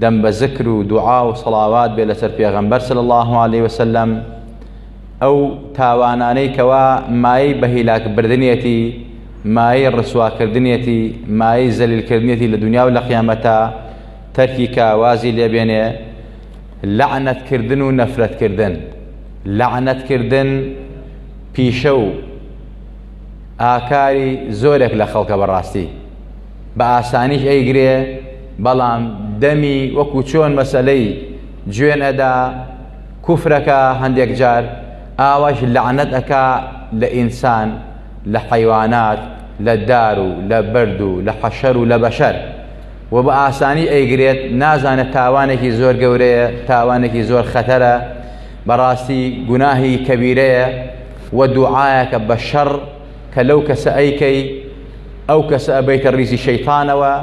دەم بە زکر و دوعا و سەڵاوات بێ لەسەر پێغەمبەر صلی الله علیه وسلم ئەو تاوانانەی کەوا مایەی بە هیلاک بردنێتی مایەی ڕسواکردنێتی مایەی زەلیلکردنێتی لە دنیا و لە قیامەتە تەرکی کە وازی لێبێنێ لەعنەتکردن و نەفرەتکردن لەعنەتکردن پیشە و ئاکاری زۆرێک لە خەڵکە بەڕاستی بە ئاسانیش ئەیگرێ بەڵام دەمی وەکو چۆن مەسەلەی جوێن ئەدا کوفرەکە هەندێک جار ئاواش لەعنەت ئەکا لە ئینسان لە حەیوانات لە دار و لە بەرد و لە حەشەر و لە بەشەر و بە ئاسانی ئەیگرێت نازانە تاوانێکی زۆر گەورەیە تاوانێکی زۆر خەتەرە بەڕاستی گوناهی کەبیرەیە و دوعاەکە بە شەڕ کە لەو کەسە ئەیکەی ئەو کەسە ئەبیتە ڕیزی شەیتانەوە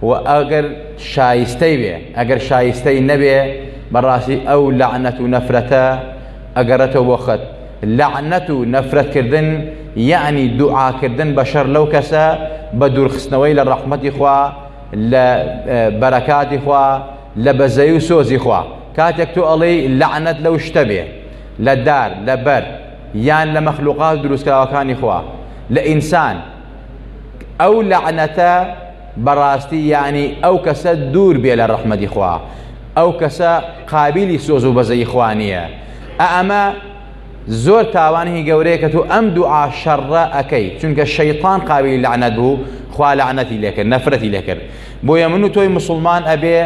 و ئەگەر شایستەی بێ ئەگەر شایستەی نەبێ بەڕاستی ئەو لەعنەت و نەفرەتە ئەگەڕێتەوە بۆ خەت لەعنەت و نەفرەتکردن یعنی دوعاکردن بە شەر لەو کەسە بە دوورخستنەوەی لە ڕەحمەتی خوا لە بەرەکاتی خوا لە بەزەی و سۆزی خوا کاتێک تۆ ئەڵێی لەعنەت لەو شتە بێ لە دار لە بەر یان لە مەخلوقات دروستکراوەکانی خوا لە ئینسان ئەو لەعنەتە بەڕاستی یانی ئەو کەسە دوور بێ لە ڕەحمەدی خوا ئەو کەسە قابلی سۆز و بەزەی خوا نییە ئەمە زۆر تاوانی گەورەیە کە تۆ ئەم دوعا شەڕە ئەەکەی چونکە شەیطان قاوی لەعنەت بوو خوا لەعنەتی لەکرد نەفرەتی لەکرد بۆیە من و تۆی مسلمان ئەبێ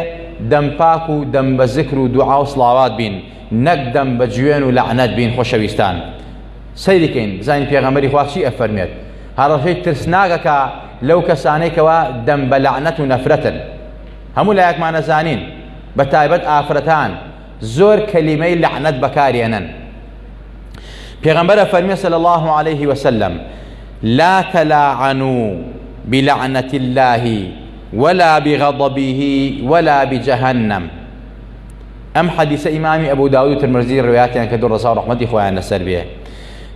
دەمپاک و دەم بە زکر و دوعا و سڵاوات بین نەک دەم بە جوێن و لەعنەت بین خۆشەویستان سەیریکەین بزانین پێغەمەری خواچی ئەفەرمێت هەڕەشەی ترسناگەکە لەو کەسانەی کەوا دەم بە لەعنەت و نەفرەتن هەموو لایەکمانە زانین بە تایبەت ئافرەتان زۆر کەلیمەی لەعنەت بەکارێنن پێغەمبەرە فەرمی صلی الله عليه وسلم لا تلاعنوا بلعنة الله ولا بغضبه ولا بجهنم ئەم حەدیسە ئیمامی ئەبو داود و ترمزی ڕواتیان کە دوو ڕزا و ڕحمەتی خۆیان لەسەر بێ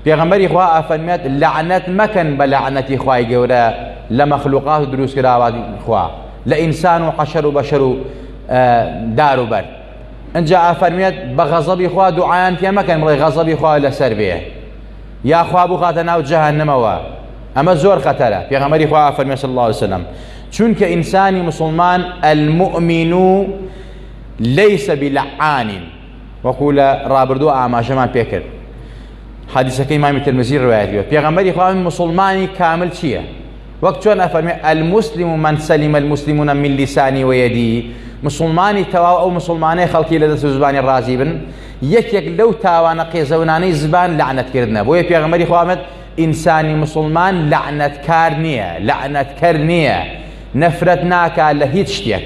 پێغەمبەری خوا ئافەرمێت لەعنەت مەکەن بە لەعنەتی خوای گەورە لە مەخلوقات و دروستکراوات خوا لە ئینسان و حەشەر و بەشەر و دار و بەر ئەجا ئافەرمێت بە غەزەبی خوا دوعایان پێ مەکەن بڵێ غەزەبی خوا لەسەر بێ یاخوا بخاتە ناو جەهنمەوە ئەمە زۆر خەتەرە پێغەمەری خوا ئافەرمێ صلی الله عليه وسلم چونکە ئینسانی مسلمان المؤمن لەیسە بلعانین وەکو لە ڕابردوو ئاماژەمان پێکرد حەدیسەکەی مامی ترمزی ڕوایەتیوە پێغەمبەری خوا مسلمانی کامل چییە وەک چۆن ئەفەرمێ المسلم و من سلم المسلمون من لسانی ویدی مسلمانی تەواو ئەو مسلمانەی خەڵکی لە دەست و زبانی ڕازی بن یەکێک لەو تاوانە قێزەونانەی زبان لەعنەتکردنە بۆیە پێغەمبەری خوامەت ئینسانی مسلمان لەعنەتکار نییە لەعنەتکەر نییە نەفرەت ناکا لە هیچ شتێک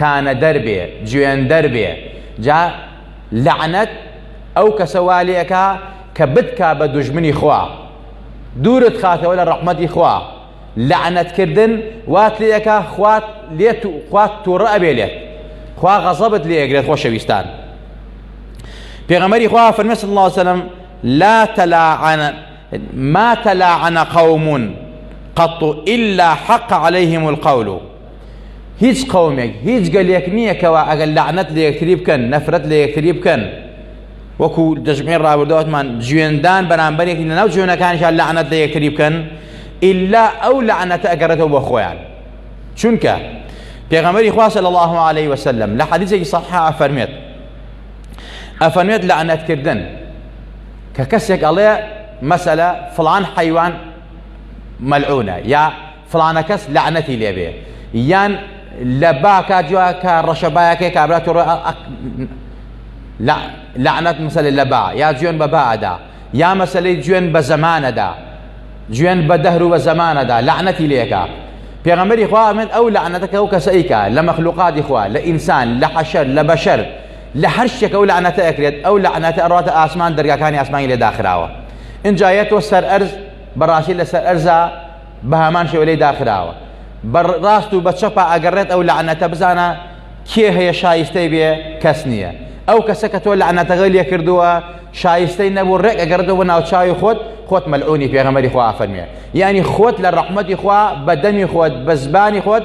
تانەدەر بێ جوێندەر بێ جا لەعنەت ئەو کەسە وا لێ ئەکا کە بتکا بە دوژمنی خوا دوورت خاتەوە لە ڕەحمەتی خوا لەعنەت کردن وات لێ ئەکا خوات لێت و خوات تووڕە ئەبێ لێت خوا غەزەبت لێ ئەگرێت خۆشەویستان پێغەمەری خوا فەرمێ صلی الله وسلم لا تلاعن ما تلاعن قوم قط إلا حق عليهم القول هیچ قەومێک هیچ گەلێک نییە کەوا ئەگەر لەعنەت لە یەکتری بکەن نەفرەت لە یەکتری بکەن وەکو دەژمێن ڕابردواتمان جوێندان بەرامبەرێکی لەناو جوێنەکانیان لەعنەت لە یەکتری بکەن ئللا ئەو لەعنەتە ئەگەڕێتەوە بە خۆیان چونکە پێغەمەری خواسە لە الله عليه وسلم لە حەدیثێکی صححا ئەفەرمێت ئەفەرمێت لەعنەتکردن کە کەسێک ئەڵێ مەسەلە فلان حیوان مەلعونە یا فڵانەکەس لەعنەتی لێبێ یان لە باکە جوا کە ڕەشە بایەکەی کابرا تۆ لەعنەت مسەلێ لە با یا جوێن بە بادا یا مەسلەی جوێن بە زەمانەدا جوێن بە دەهر و بە زەمانەدا لەعنەتی لێکە پێغەمبەری خوا من ئەو لەعنەتەکە و کەسەیکە لە مەخلوقاتی خوا لە ئینسان لە حەشەر لە بەشەر لە هەر شتێک ئەو لەعنەتە ئەکرێت ئەو لەعنەتە ئەڕاتە ئاسمان دەرگاکانی ئاسمانی لێ داخراوە اینجا یە تۆ سەر ئەرز بەڕاستی لەسەر ئەرزە بەهەمان شێوە لێی داخراوە بە ڕاست و بە چەپا ئەگەڕێت ئەو لەعنەتە بزانە کێ هەیە شایستەی بێ کەس نییە ئەو کەسە کە تۆ لەعنەتەکەی لێ کردووە شایستەی نەبوو ڕێک ئەگەڕێتەوە بۆ ناوچاوی خۆت خۆت مەلعونی پێغەمەری خوا ئافەرمێ یعنی خۆت لە ڕەحمەتی خوا بە دەمی خۆت بە زبانی خۆت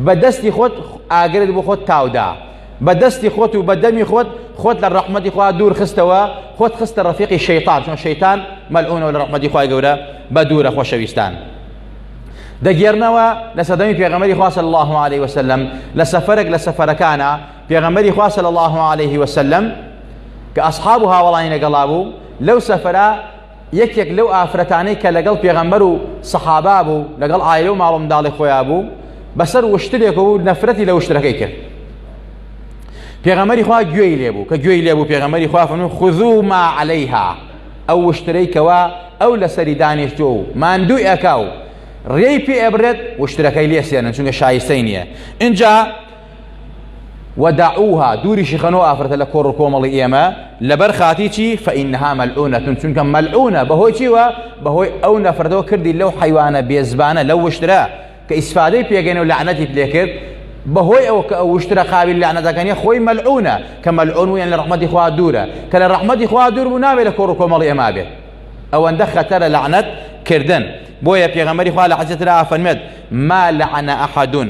بە دەستی خۆت ئاگرت بۆ خۆت تاودا بە دەستی خۆت و بە دەمی خۆت خۆت لە ڕەحمەتی خوا دوور خستەوە خۆت خستە ڕەفیقی شەیتان چۆن شەیتان مەلعونەوە لە ڕەحمەتی خوای گەورە بە دوورە خۆشەویستان دەگێرنەوە لە سەدەمی پێغەمەری خوا صلی الله عليه وسلم لە سەفەرێک لە سەفەرەکانە پێغەمەری خوا صلی الله عليه وسلم کە ئەصحاب و هاوڵانی لەگەڵا بوو لەو سەفرە یەکێک لەو ئافرەتانەی کە لەگەڵ پێغەمبەر و سەحابا بوو لەگەڵ ئایلە و ماڵ و منداڵی خۆیان بوو بەسەر وشترێک بوو نەفرەتی لە وشترەکەی کرد پێغەمەری خوا گوێی لێ بوو کە گوێی لێ بوو پێغەمەری خوا فەرموو خذو ما علیها ئەو وشترەی کەوا ئەو لەسەری دانیشتۆ و ماندووی ئەکا و ڕێی پێ ئەبرێت وشترەکەی لێسێنن چونکە شایستەی نییە اینجا ودعوها دوری شیخەنەوە ئافرەتە لە کۆڕ و کۆمەڵی ئێمە لەبەر خاتی چی فەئینها مەلعونەتون چونکە مەلعونە بەهۆی چیوە بەهۆی ئەو نەفرەتەوە کردی لەو حیوانە بێزبانە لەو وشترە کە ئیسفادەی پێگەن و لەعنەتی پلێکرد بەهۆی ئەو کە ئەو وشترە قابل لەعنەتەکەنی خۆی مەلعونە کە مەلعون ویان لە ڕحمەتی خوا دوورە کە لە ڕحمەتی خوا دوور بوو نابێت لە کۆڕ و کۆمەڵی ئێمە بێت ئەوەندە خەتەرە لەعنەت کردن بۆیە پێغەمەری خوا لە حەجەترا فەرمێت ما لەعنە ئەحەدون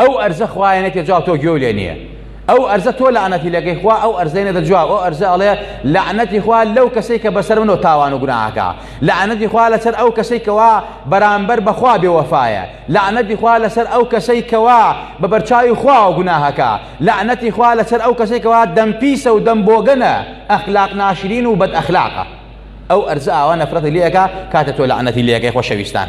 ئەو ئەرزە خوایە نەکێ جاو تۆ گوێو لێ نییە ئەو ئەرزە تۆ لەعنەتی لەگەی خوا ئەو ئەرزەی نەدە جواب ئەو ئەرزە ئەڵێ لەعنەتی خوا لەو کەسەی کە بەسەر منەوە تاوان و گوناهەکە لەعنەتی خوا لەسەر ئەو کەسەی کەوا بەرامبەر بەخوا بێوەفایە لەعنەتی خوا لەسەر ئەو کەسەی کەوا بە بەرچاوی خواوە گوناهەکە لەعنەتی خوا لەسەر ئەو کەسەی کەوا دەم پیسە و دەم بۆگەنە ئەخلاق ناشرین و بەد ئەخلاقە ئەو ئەرزە ئاوا نەفرەتی لەکە کاتە تۆ لەعنەتی لەکەی خۆشەویستان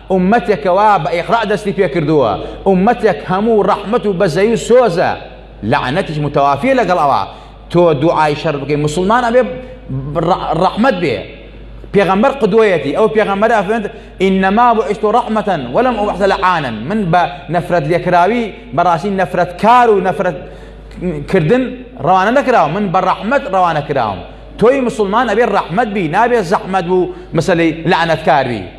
ئوممەتێک کەوا بە ئیقرا دەستی پێ کردووە، ئوممەتێک هەموو ڕەحمەت و بەزەیی و سۆزە، لەعنەتیش متەوافیە لەگەڵ ئەوا، تۆ دوعای شەر بکەی، موسڵمان ئەبێ ڕەحمەت بێ، پێغەمبەر قدوەیەتی، ئەو پێغەمبەرە ئەفەرموێت، انما بعثت رحمة ولم ابعث لعانا، من بە نەفرەت لێکراوی، بەڕاستی نەفرەتکار و نەفرەت کردن ڕەوانە نەکراوم، من بە ڕەحمەت ڕەوانە کراوم، تۆی موسڵمان ئەبێ ڕەحمەت بی، نابێ زەحمەت و مسەلەی لەعنەتکار بی.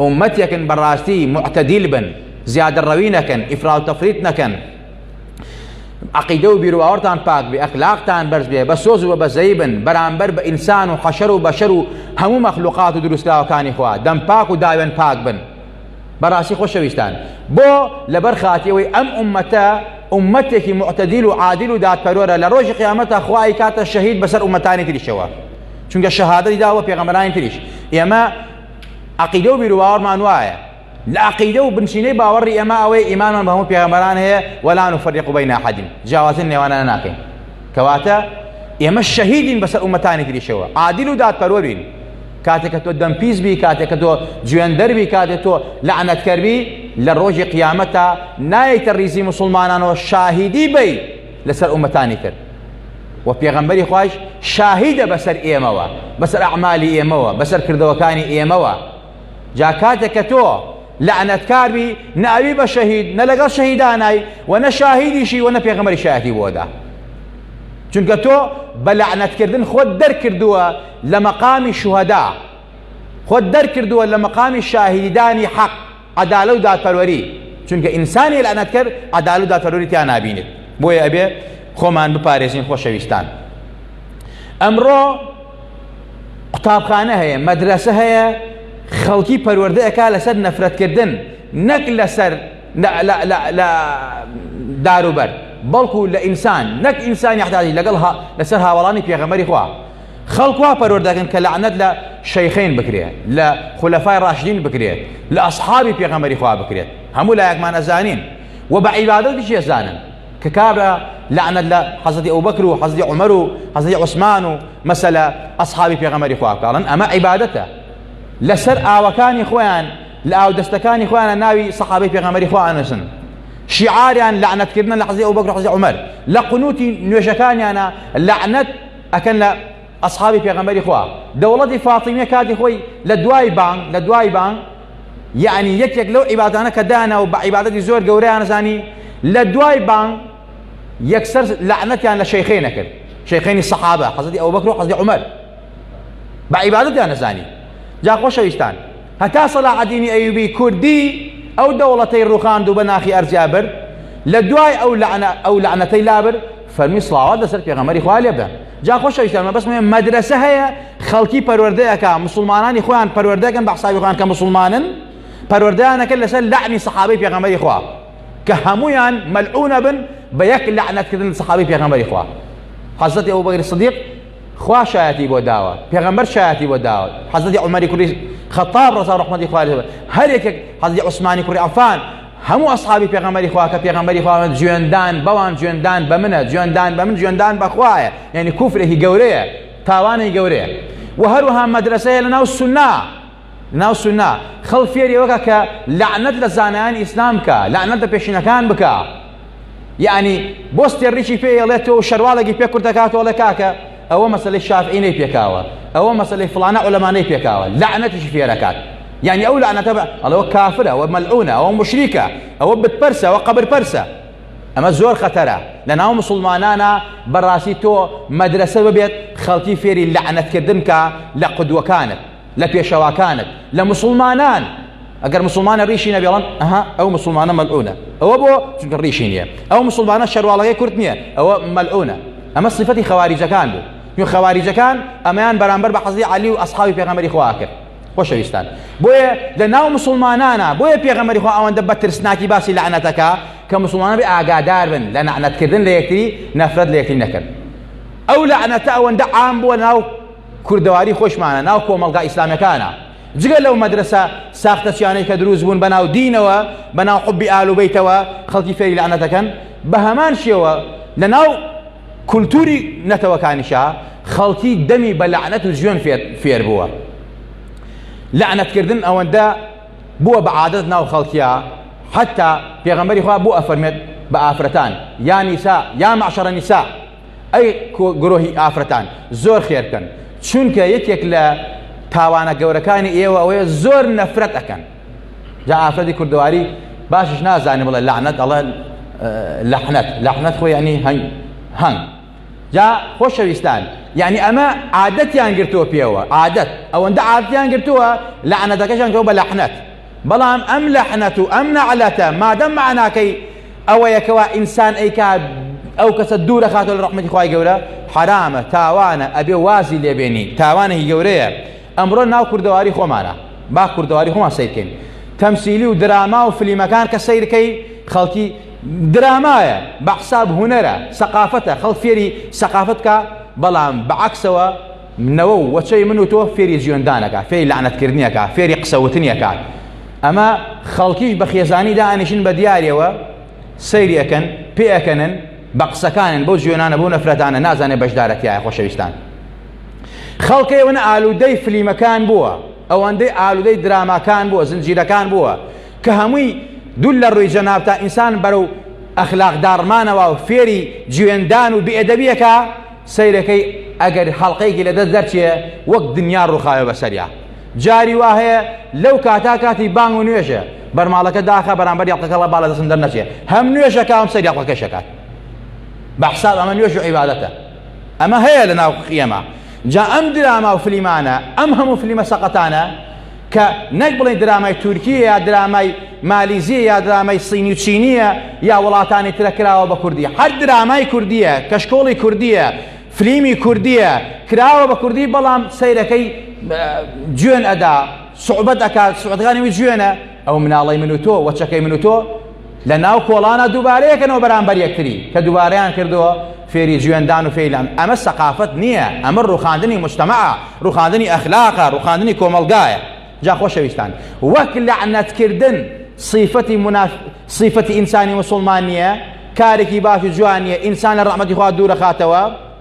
ئومەتێکن بەڕاستی معتەدیل بن زیادە ڕەوی نەکەن ئیفراو تەفریت نەکەن عقیدە و بیرواوەتان پاک بێ ئەخلاقتان بەرز بێ بە سۆز و بە بەزەی بن بەرامبەر بە ئینسان و حەشەر و بەشەر و هەموو مەخلوقات و دروستکراوەکانی خوا دەم پاک و داوێن پاک بن بەڕاستی خۆشەویستان بۆ لەبەر خاتیەوەی ئەم ئومەتە ئومەتێکی معتەدیل و عادل و دادپەرۆرە لە ڕۆژی قیامەتە خوای کاتە شەهید بەسەر ئومەتانی تریشەوە چونکە شەهادەی داوە پێغەمەرانی تریش ئێمە عەقیدە و بیروباوەڕمان وایە، لە عەقیدە و بنچینەی باوەڕی ئێمە ئەوەیە ئیمانمان بە هەموو پێغەمبەران هەیە، ولا نفرق بین احد، جیاوازی لە نێوانیان ناکەین، کەواتە ئێمە شەهیدین بەسەر ئوممەتانی تریشەوە، عادل و دادپەروەرین، کاتێک کە تۆ دەمپیس بی، کاتێک کە تۆ جوێندەر بی، کاتێک تۆ لەعنەتکەر بی، لە ڕۆژی قیامەتا نایەیتە ڕیزی موسڵمانانەوە شاهیدی بەی، لەسەر ئومەتانی تر و پێغەمبەری خوایش شاهیدە بەسەر ئێمەوە بەسەر ئەعمالی ئێمەوە بەسەر کردەوەکانی ئێمەوە جا کاتێک کە تۆ لەعنەتکاربی ناوی بە شەهید نە لەگەڵ شەهیدانای و نە شاهیدیشی و نە پێغەمەری شایەتی بۆدا چونکە تۆ بە لەعنەتکردن خۆت دەرکردووە لە مەقامی شوهدا خۆت دەرکردووە لە مەقامی شاهیدانی حەق عەدالە و دادپەروەری چونکە ئینسانی لەعنەتکەر عەدالە و دادپەروەری تیا نابینێت بۆیە ئەبێ خۆمان بپارێزین خۆشەویستان ئەمڕۆ قوتابخانە هەیە مەدرسە هەیە خەڵکی پەروەردەیەکە لەسەر نەفرەتکردن نەک لەسەر لە داروبەر بەڵکو لە ئینسان نەک ئینسانی حتاجی لەگەڵ لەسەر هاوڵانی پێغەمەری خوا خەڵک وا پەروەر دەکەن کە لەعنەت لە شەیخین بکرێت لە خولەفای ڕاشدین بکرێت لە ئەسحابی پێغەمبەری خوا بکرێت هەموو لایەکمان ئەزانین و بە عیبادەتیش ئەزانن کە کابرا لەعنەت لە حەزەتی ئەوبەکر و حەزەتی عومەر و حەزەتی عوسمان و مەسەلە ئەسحابی پێغەمبەری خوا بکاڵن ئەمە عیبادەتە لەسەر ئاوەکانی خۆیان لە ئاو دەستەکانی خۆیانە ناوی سەحابەی پێغەمبەری خوا ئەنووسن شیعاریان لەعنەتکردن لە حەزەتی ئەوبەکر حەزەتی عومەر لە قنوتی نوێژەکانیانە لەعنەت ئەکەن لە ئەسحابی پێغەمبەری خوا دەوڵەتی فاتیمیە کاتی خۆی لە دوای بانگ لە دوای بانگ یعنی یەکێک لەو عیبادانە کە دانا و بە عیبادەتی زۆر گەورەیان زانی لە دوای بانگ یەکسەر لەعنەتیان لە شەیخینە کرد شەیخینی سەحابە حەزەتی ئەو بەکر و حەزی عمر بە عیبادەتیان نەزانی جا خۆشەویستان هەتا سەلاحەدینی ئەیوبی کوردی ئەو دەوڵەتەی ڕوخاند و بە ناخی ئەرجا برد لە دوای ئەو لەعنە ئەو لەعنەتەی لابرد فەرمی سڵاوات لەسەر پێغەمەری خوا لێ بدەن جا خۆش ئەویشتان مە بەسمێ مەدرسە هەیە خەڵکی پەروەردەیەکە مسلمانانی خۆیان پەروەردەکەن بە حسابی خۆیان کە مسلمانن پەروەردەیانەکە لەسەر لەعنی سەحابەی پێغەمەری خوا کە هەمویان مەلعونە بن بە یەک لەعنەتکردن سەحابەی پێغەمەری خوا حەزەتی ئەو بەگری صدیق خوا شایەتی بۆ داوە پێغەمبەر شایەتی بۆ داوە حەزەتی عمەری کوڕی خەتاب ڕەزا ڕحمەتی خوارد هەر یەکێک حەزی عوسمانی کوڕی عفان هەموو ئەسحابی پێغەمبەری خوا کە پێغەمبەری خواوە جوێندان بەوان جوێندان بە منە جوێندان بە من جوێندان بەخوایە یعنی کوفرێکی گەورەیە تاوانی گەورەیە و هەروەها مەدرسەیە لە ناو سنە ناو سونە خەڵک فێری ئەوە کە کە لەعنەت لە زانایانی ئیسلام بکە لەعنەت لە پێشینەکان بکە یعنی بۆ ستێڕیکی پێ ئەڵێت تۆ شەرواڵێکی پێ کورت دەکاتەوە ئەڵێ کاکە ئەوە مەسلەی شافعی نەی پێکاوە ئەوە مەسلەی فلانە عولەمانەی پێکاوە لەعنەتیشی فێرەکات یعنی ئەو لەعنەتە بە ئەڵەوە کافرە ئەوە مەلعونە ئەوە مشریکە ئەوە بتپەرسە ئەوە قەبر پەرسە ئەمە زۆر خەتەرە لە ناو مسلمانانە بەڕاستی تۆ مەدرسە ببێت خەڵکی فێری لەعنەتکردن کە لە قدوەکانت لە پێشەواکانت لە مسلمانان ئەگەر مسلمانە ڕیشی نەبێڵن ئەها ئەو مسلمانە مەلعونە ئەوە بۆ چونکە ڕیشی نییە ئەو مسلمانە شەرواڵەکەی کورت نییە ئەوە مەلعونە ئەمە سفەتی خەواریجەکان بوو یو خەواریجەکان ئەمەیان بەرامبەر بە حەزی علی و ئەسحاوی پێغەمەری خوا کرد خۆشەویستان بۆیە لە ناو مسلمانانە بۆیە پێغەمەری خوا ئەوەندە بە ترسناکی باسی لەعنەتەکە کە مسلمانە بێ ئاگادار بن لە نەعنەتکردن لە یەکتری نەفرەت لە یەکتری نەکرد ئەو لەعنەتە ئەوەندە عام بووە ناو کوردەواری خۆشمانە ناو کۆمەڵگا ئیسلامیەکانا جگە لەو مەدرسە ساختەچیانەی کە دروست بوون بەناو دینەوە بەناو حبی ئالوبەیتەوە خەڵکی فێری لەعنەتەکەن بە هەمان شێوە لەناو کولتوری نەتەوەکانیشا خەڵکی دەمی بە لەعنەت و جوێن فێر بووە لەعنەتکردن ئەوەندە بووە بە عادەت ناو خەڵکیە حتا پێغەمبەری خوا بۆ ئەفەرمێت بە ئافرەتان یا نیسا یا معشرە نیسا ئەی گرۆهی ئافرەتان زۆر خێرکەن چونکە یەکێک لە تاوانە گەورەکانی ئێوە ئەوەیە زۆر نەفرەت ئەەکەن جا ئافرەتی کوردواری باشش نازانێ بڵێ لەعنەت ئەڵێ لەحنەت لەحنەت خۆی ئەنی هەنگ هەنگ جا خۆشەویستان یعنی ئەمە عادەتیان گرتووە پێوە عادەت ئەوەندە عادیان گرتووە لەعنەتەکەشان کەەوە بە لەحنەت بەڵام ئەم لەحنەت و ئەم نەعلەتە مادەم مەعناکەی ئەوەیە کەوا ئینسان ئەیکات ئەو کەسە دوورە خاتۆ لە ڕەحمەتی خوای گەورە حرامە تاوانە ئەبێ وازی لێبێنی تاوانێکی گەورەیە ئەمڕۆ ناو کوردەواری خۆمانە با کوردەواری خۆمان سیرکەین تەمسیلی و دراما و فلیمەکان کە سیرکەی خەڵکی درامایە بە حساب هوەرە سەقافەتە خەڵ فێری سەقافەتکە بەڵام بەعکسەوە منەوە و وەچەی من و تۆ فێری جوێندانەکە فێری لەعنەتکردنیەکە فێری قسەوتنیەکە ئەمە خەڵکیش بە خێزانی دانیشن بە دیارەوە سەیرەکەن پێەکەنن بە قسەکانن بۆ جوێنانە بۆ نەفرەتانە نازانێ بەشدارەتیایە خۆشەویستان خەڵکەی ونە ئالوودەی فلیمەکان بووە ئەوەندەی ئالوودەی دراماکان بووە زنجیرەکان بووە کە هەمووی دوول لە ڕووی جەناب تا ئینسان بەرەو ئەخلاق داڕمانەوە و فێری جوێندان و بێدەبیەکە سەیرەکەی ئەگەر هەڵقەیەکی لە دەست دەرچێ وەک دنیا ڕوخاوێ بەسەریا جاری وا هەیە لەو کاتا کاتی بانگ و نوێژە بەرماڵەکە داخە بەرامبەر یاقەکەڵە باە دەستم دەرنەچێ هەم نوێژە کاوم سەر یاقەکە شەکات بە حساب ئەمە نوێژ و عیباەتە ئەمە هەیە لە ناو قیەمە جا ئەم دراما و فلیمانە ئەم هەموو فلیمە سەقەتانە کە نەک بڵێین درامای تورکییە یا درامای مالیزییە یا درامای سینی و چینییە یا وڵاتانی ترە کراوە بە کوردی هەر درامای کوردییە کەشکۆڵی کوردییە فلیمی کوردییە کراوە بە کوردی بەڵام سەیرەکەی جوێن ئەدا سوعبەت ئەکات سوعەتەکانی وی جوێنە ئەو مناڵی من و تۆ وەچەکەی من و تۆ لە ناو کۆڵانا دووبارەیەکەنەوە بەرامبەر یەکتری کە دووبارەیان کردووە فێری جوێندان و فێیلان ئەمە سەقافەت نییە ئەمە ڕوخاندنی مجتمع ڕوخاندنی ئەخلاقە ڕوخاندنی کۆمەڵگایە جا خۆشەویستان وەک لەعنەتکردن صیفەتی مناف صیفەتی ئینسانی مسلمان نییە کارێکی باش و جوان نییە ئینسان لە ڕەحمەتی خوا دوورەخاتەوە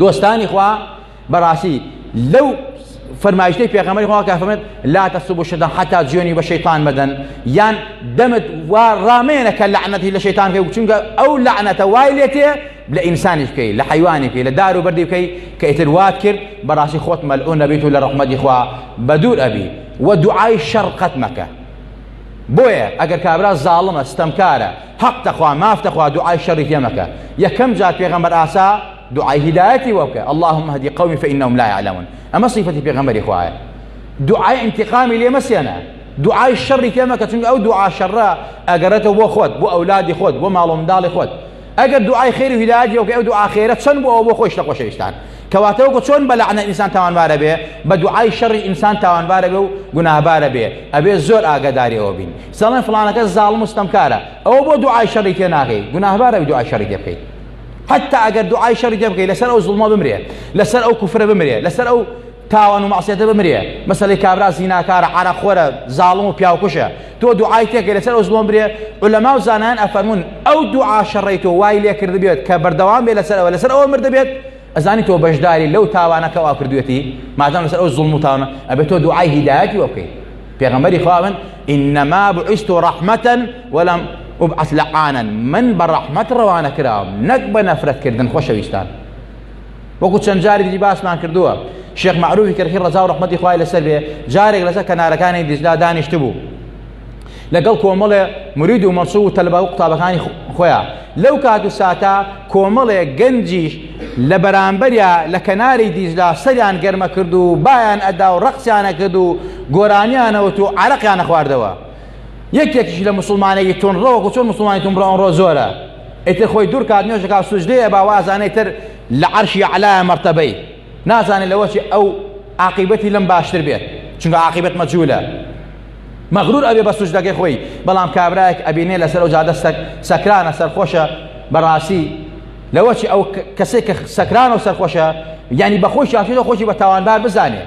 دۆستانی خوا بەڕاستی لەو فەرمایشتەی پێغەمەری خوا کافەمێت لا تەسب و شەدە حتا جوێنی بە شەیتان مەدەن یان دەمت وا ڕامێنە کە لەعنەتی لە شەیتان کە چونکە ئەو لەعنەتە وای لێتێ لە ئینسانیش بکەی لە حیوانی بکەی لە دار و بەردی بکەی کە ئیتر وات کرد بەڕاستی خۆت مەلعون نەبیت و لە ڕەحمەتی خوا بەدوور ئەبی و دوعای شەڕقەت مەکە بۆیە ئەگەر کابرا زاڵمە ستەمکارە حەق دەخوا ماف دەخوا دوعای شەڕی پێ مەکە یەکەم جار پێغەمبەر ئاسا دوعای هیدایەتی وە بکە اللهم اهدی قومی فانهم لا يعلمون ئەمە صفەتی پێغەمبەری خوایە دوعای انتقامی لێ مەسێنە دوعای شەڕی پێ مەکە چونکە ئەو دوعا شەڕە ئەگەرێتەوە بۆ خۆت بۆ ئەولادی خۆت بۆ ماڵ و منداڵی خۆت ئەگەر دوعای خێری و هیدایەتی وەکە ئەو دوعا خێرە چەند بۆ ئەوە بۆ خۆی شتە خۆشەویستان کەواتە وەکو چۆن بە لەعنە ئینسان تاوانبارە بێ بە دوعای شەڕی ئینسان تاوانبارە بێ و گوناهبارە بێ ئەبێ زۆر ئاگاداری ئەوە بین سەڵێن فڵانەکەس زاڵم و ستەمکارە ئەوە بۆ دوعای شەڕی تێ ناکەی گوناهبار ئەوی دوعای شەڕی تێ بکەی حتی ئەگەر دوعای شەڕی تێ بکەی لەسەر ئەو زوڵمە بمرێ لەسەر ئەو کوفرە بمرێ لەسەر ئەو تاوان و مەعسیەتە بمرێ مەسەلەی کابرا زیناکارە عەرەخۆرە زاڵم و پیاوکوشە تۆ دوعای تێکە لەسەر ئەو زوڵم برێ علەما و زانایان ئەفەرمون ئەو دوعا شەڕی تۆ وای لێ کرد بێت کە بەردەوام بێ لەسەر ئەوە لەسەر ئەوە مردە بێت ئەزانی تۆ بەشداری لەو تاوانەکە وا کردوێتی مادام لەسەر ئەو زوڵم و تاوانە ئەبێت تۆ دوعای هیدایەتی وە بکەیت پێغەمبەری خوا من انما بعثت رحمتا ولم ابعث لعانا من بە ڕەحمەت ڕەوانە کراوم نەک بە نەفرەتکردن خۆشەویستان وەکو چەند جاری دیجی باسمان کردووە شێخ معروفی کەرخی ڕزا و ڕحمەتی خوای لەسەر بێ جارێک لەسەر کەنارەکانی دیجلا دانیشت بوو لەگەڵ کۆمەڵێ مرید و مەسوو و تەلبا و قوتابەکانی خۆیان لەو کات و ساتە کۆمەڵێ گەنجیش لە بەرامبەریا لە کەناری دیجلە سەریان گەرمە کرد و بایان ئەدا و ڕەقسیانە کرد و گۆرانیانەوت و عەرەقیانە خواردەوە یەکێکیش لە مسلمانێکی تونڕە وەکو چۆن مسلمانی تونڕە ئەمڕۆ زۆرە ئیتر خۆی دوور کات نوێژەکە سوجدەیە با وازانەی تر لە عەرشی عەلایە مەرتەبەی نازانێت لەوەچی ئەو عاقیبەتی لەم باشتر بێت چونکە عاقیبەت مەجوولە مەغرور ئەبێ بە سوجدەکەی خۆی بەڵام کابراێک ئەبینێ لەسەر ئەو جادە سەکرانە سەرخۆشە بەڕاستی لەوە چی ئەو کەسێک کە سەکران و سەرخۆشە یعنی بە خۆی شاکێتەوە خۆشی بە تاوانبار بزانێ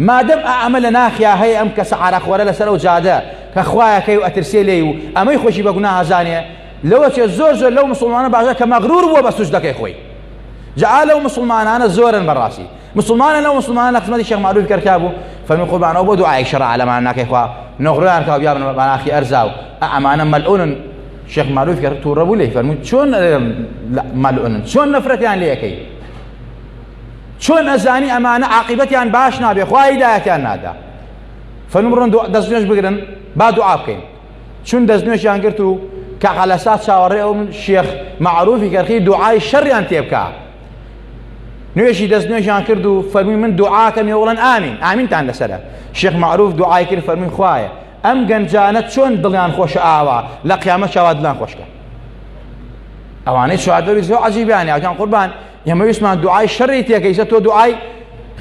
مادەم ئەمە لە ناخیا هەیە ئەم کەسە عراقوەرە لەسەر ئەو جادە کە خوایەکەی و ئەترسێ لێی و ئەمەی خۆشی بە گوناه ئەزانێ لەوە چێ زۆر زۆر لەو مسلمانە باشە کە مەغرور بووە بە سوجدەکەی خۆی جا لەو مسلمانانە زۆرن بەڕاستی مسلمانە لەو مسلمانە قسمەتی شێخ معروف کەرکا بوو فەرمی قوربانەوە بۆ دوعای شەڕ عەلەمان ناکەی خوا نۆغریان کاو بیابن بە ناخی ئەرزاو ئەمانە مەلعونن شێخ معروف کە تووڕە بوو لێ فەرموو چۆن مەلعونن چۆن نەفرەتیان لێ یەکەی چۆن ئەزانی ئەمانە عاقبەتیان باش نابێ خوا هیدایەتیان نادا فەرموو بڕۆن دەست نوێژ بگرن با دوعا بکەین چون دەست نوێژیان گرت و کە قەلەسا چاوەڕێ ئەو شێخ معروفی کەرخی دوعای شەڕیان تێبکە نوێژی دەست نوێژیان کرد و فەرمی من دوعاکەم ێوڵەن ئامین ئامینتان لەسرە شێخ معروف دوعای کرد فەرمی خوایە ئەم گەنجانە چۆن دڵیان خۆشە ئاوا لە قیامەت شاوا دلان خۆشکە ئەوانەی شادەوی زۆ عجیبیان یاکان قوربان ئێمە ویسمان دوعای شەڕی تێکەیسە تۆ دوعای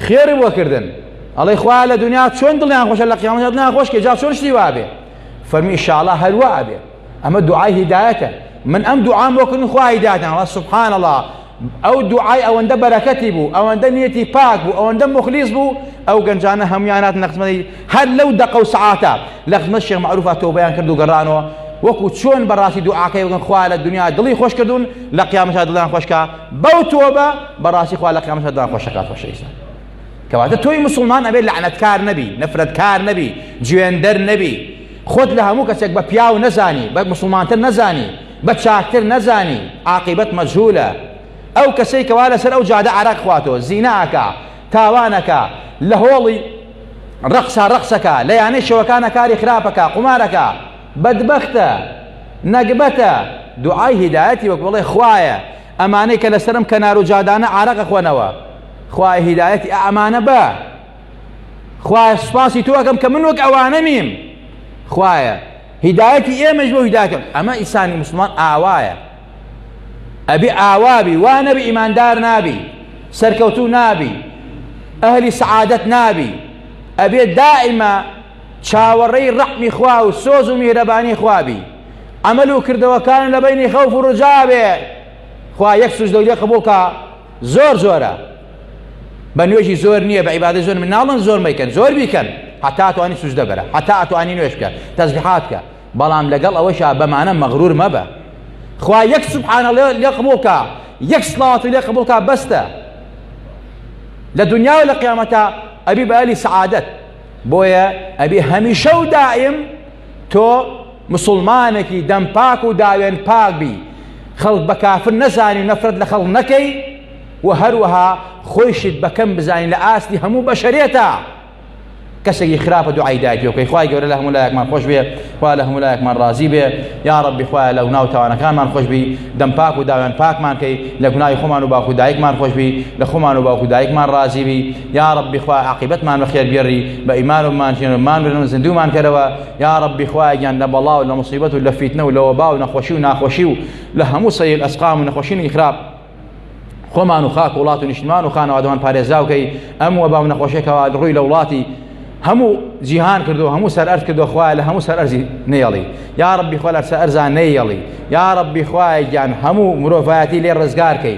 خێری وەکردن ئەڵێ خوا لە دنیا چۆن دڵیان خۆشە لە قیامەت دڵیان خۆشکە جا چۆن شتی وابێ فەرمی شاڵە هەروە ئەبێ ئەمە دوعای هیدایەتە من ئەم دوعام وەکردن خوا هیدایەتان سبحان الله ئەو دوعای ئەوەندە بەرەکەتی بوو ئەوەندە نیەتی پاک بوو ئەوەندە مخلیص بوو ئەو گەنجانە هەمویان هاتن نەخزمەی هەر لەو دەقە و سعاتە لە خزمەت شێخ معروفە تۆبەیان کرد و گەڕانەوە وەکو چۆن بەڕاستی دوعاکەی بگەن خوا لە دنیا دڵی خۆش کردوون لە قیامەتا دڵیان خۆشکە بەو تۆبە بەڕاستی خوا لە قیامەتا دڵیان خۆشەکات خۆشەویستە کەواتە تۆی مسلمان ئەبێ لەعنەتکار نەبی نەفرەتکار نەبی جوێندەر نەبی خۆت لە هەموو کەسێک بە پیاو نەزانی بە مسلمانتر نەزانی بە چاکتر نەزانی عاقیبەت مەجهولە ئەو کەسەی کەوا لەسەر ئەو جادە عەرەق خواتۆ زینا ئەکا تاوان ئەکا لە هۆڵی ڕەقسا ڕەقس ئەکا لە یانەی شەوەکانە کاری خراپ ئەکا قومار ئەکا بەدبەختە نەگبەتە دوعای هیدایەتی وەک بڵێ خوایە ئەمانەی کە لەسەرم کەنار و جادانە عەرەق ئەخۆنەوە خوایە هیدایەتی ئەمانە بە خوایە سوپاسی تۆ ئەەکەم کە من وەک ئەوانە نیم خوایە هیدایەتی ئێمەش بۆ هیداکەم ئەمە ئیسانی مسلمان ئاوایە ئەبێ ئاوابی وا نەبی ئیماندار نابی سەرکەوتو نابی ئەهلی سعادەت نابی ئەبێ دائیمە چاوەڕێی ڕەحمی خوا و سۆز و میهرەبانی خوابی ئەمەل و کردەوەکان لە بینی خەوف و ڕجاوێ خوا یەک سوش دەولێ قبولکە زۆر زۆرە بە نوێژی زۆر نییە بە عیبادە زۆر من ناڵن زۆر مەیکەن زۆر بیکەن هەتا توانی سوز دەبەرە هەتا ئەتوانی نوێش بکە تەزبحات بکە بەڵام لەگەڵ ئەوەشا بەمانە مەغرور مەبە خوا یەک سبحانە لێ قبولکە یەک سڵاوتی لێ قبولکە بەستە لە دنیا و لە قیامەتە ئەبی بەلی سعادەت بۆیە ئەبێ هەمیشە و دائیم تۆ مسلمانێکی دەم پاک و داوێن پاک بی خەڵک بە کافر نەزانی و نەفرەت لە خەڵک نەکەی و هەروەها خۆیشت بەکەم بزانین لە ئاستی هەموو بەشەرێتە کەسێکی خراپە دوعای داگیۆکەی خخوای گەورە لە هەموو لایەکمان خۆش بێ خوا لە هەموو لایەکمان ڕازی بێ یا ڕبی خوای لە ناو تاوانەکانمان خۆشببی دەم پاک و داوێن پاکمانکەی لە گوناای خۆمان و باکو دایکمان خۆشببی لە خۆمان و باکو دایکمان ڕازیبی یاڕەبی خوایە عاقیبەتمان بەخێر گێڕی بە ئیمان و مانژێن و مانبرن و زیندوومان کەرەوە یاڕەبی خوایە گیان لە بەڵا و لە مصیبەت و لە فیتنە و لە وەبا و نەخۆشی و ناخۆشی و لە هەموو سەیل ئەسقام و نەخۆشینی خراپ خۆمان و خاک وڵات و نیشتمان و خانەوادەوان پارێزراوکەی ئەم وەبا و نەخۆشێکەوە ڕووی لە وڵاتی هەموو جیهان کردو هەموو سەر ئەرز کردو خوایە لە هەموو سەر ئەرزی نێڵی یا ڕبی خۆ لەرسە ئەرزان نەیەڵی یا ڕبی خوایە گیان هەموو مرۆڤایەتی لێ ڕزگارکەی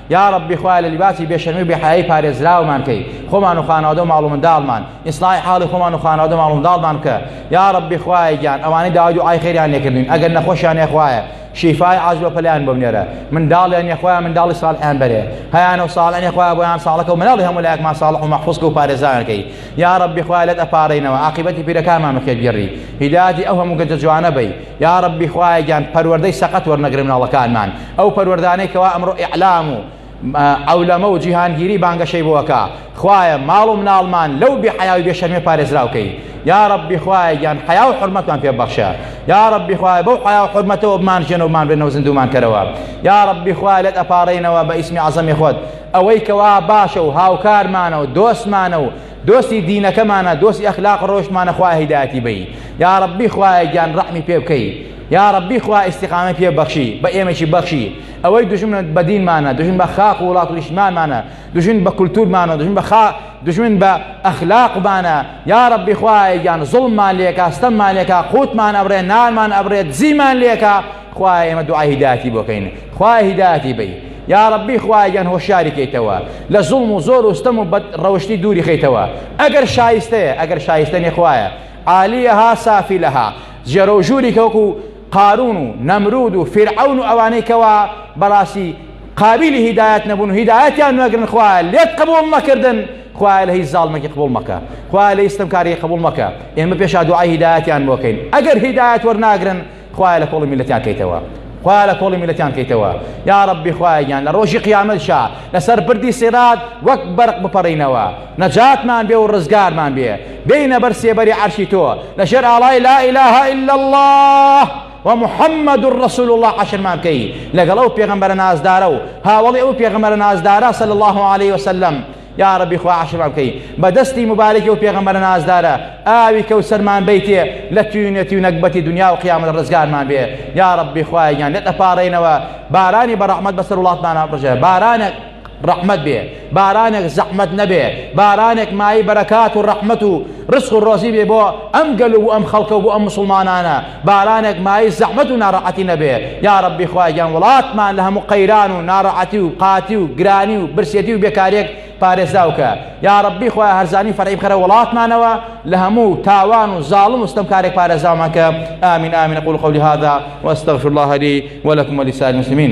یاڕەبی خوایە لە لیباسی بێشەرمی و بێحەیایی پارێزراومان کەی خۆمان و خانەوادە و ماڵ و منداڵمان ئیسلاحی حاڵی خۆمان و خانەوادە ماڵ و منداڵمان بکە یاڕەبی خوایە گیان ئەوانەی داوای دوعای خێریان لێکردین ئەگەر نەخۆشیان هەیە خوایە شیفای عاجل بە پەلیان بۆ بنێرە منداڵیان نیە خوایە منداڵی ساڵحیان بەرێ هەیانە و ساڵح نیە خوایە بۆیان ساڵەکە و مناڵی هەموو لایەکمان ساڵح و مەحفوظ کە و پارێزراویان کەی یاڕەبی خوایە لێت ئەپارێینەوە عاقیبەتی پیرەکانمان بەخێر گێڕی هیدایەتی ئەو هەموو گەنجە جوانە بەی یاڕەبی خوایە گیان پەروەردەی سەقەت وەرنەگرە مناڵەکانمان ئەو پەروەردانەی کەوا ئەمڕۆ ئیعلام و عولەمە و جیهانگیری بانگەشەی بۆەکە خوایە ماڵ و مناڵمان لەو بێ حیاوی بێ شەرمێ پارێزراوکەی یاڕەبی خوایە گیان حیا و حرمەتمان پێ بەخشە یاڕەبی خوایە بەو حیا و حرمەتەوە بمان ژێن و بمان بێنەوە زیندومان کەرەوە یاڕەبی خوایە لەت ئەپارەینەوە بە ئیسمی عەزەمی خۆت ئەوەی کەوا باشە و هاوکارمانە و دۆستمانە و دۆستی دینەکەمانە دۆستی ئەخلاق ڕەوشتمانە خوایە هیدایەتی بەی یاڕەبی خوایە گیان ڕەحمی پێ بکەی یاڕەبی خوا ئیستیقامەی پێ بەخشی بە ئێمەشی بەخشی ئەوەی دوژمنت بە دینمانە دوژمن بە خاک و وڵات و نیشتمانمانە دوژمن بە کولتورمانە دوژمن بە خا دوژمن بە ئەخلاقمانە یاڕەبی خوایە گیان زوڵممان لێکا ستەممان لێکا قوتمان ئەبڕێ نانمان ئەبڕێ دزیمان لێکا خوایە ئێمە دوعای هیدایەتی بۆکەین خوای هیدایەتی بی یا ڕبی خوایگەن هۆشیاری کەیتەوە لە زوڵم و زۆر و ستەم و بەد ڕەوشتی دووری خەیتەوە ئەگەر شایستەیە ئەگەر شایستە نێخوایە عالیەها سافی لەها جێرە و ژووری کەوەکو قارون و نەمرود و فیرعون و ئەوانەی کەوا بەڕاستی قابلی هیدایەت نەبوون و هیدایەتیان نەگرن خوایە لێت قبول نەکردن خوایە لە هیچ زاڵمەکی قبول مەکە خوایە لە هیچ ستەمکاری قبول مەکە ئێمە پێشا دوعای هیدایەتیان بۆکەین ئەگەر هیدایەت وەرناگرن خوایە لە کۆڵی میللەتیان کەیتەوە خوایە لە کۆڵی میللەتیان کەیتەوە یاڕەبی خوایە گیان لە ڕۆژی قیامەتشا لەسەر بردی سیرات وەک بەرق بپەڕینەوە نەجاتمان بێ و ڕزگارمان بێ بێینە بەر سێبەری عەرشی تۆ لە ژێر ئاڵای لا اله الا الله و محمد الرسول الله عشرمان بکەی لەگەڵ ئەو پێغەمبەرە نازدارە و هاوڵی ئەو پێغەمبەرە نازدارە صلی الله عليه وسلم یاڕەبی خوا عاشرمان بکەی بە دەستی موبارەکی ئەو پێغەمبەرە نازدارە ئاوی کەوسەرمان بەیتێ لە توینەتی و نەگبەتی دنیا و قیامەت ڕزگارمان بێ یاڕەبی خوایە گیان لێت ئەپاڕێینەوە بارانی بە ڕەحمەت بەسەر وڵاتمان بڕژێ بارانێک ڕەحمەت بێ بارانێک زەحمەت نەبێ بارانێک مای بەرەکات و ڕەحمەت و ڕسق و ڕۆزی بێ بۆ ئەم گەل و ئەم خەڵکە و بۆ ئەم مسلمانانە بارانێک مایەی زەحمەت و ناڕەعەتی نەبێ یاڕەبی خوایەگیان وڵاتمان لەهەموو قەیران و ناڕەعەتی و قاتی و گرانی و برسێتی و بێکاریەک پارێزراوکە یاڕەبی خوایە هەرزانی فەرعی بخەرە وڵاتمانەوە لەهەموو تاوان و زاڵم و ستەمکارێک پارێزراومانکە ئامین ئامین قول قولی هذا واستغفر الله لي ولكم ولسائر المسلمين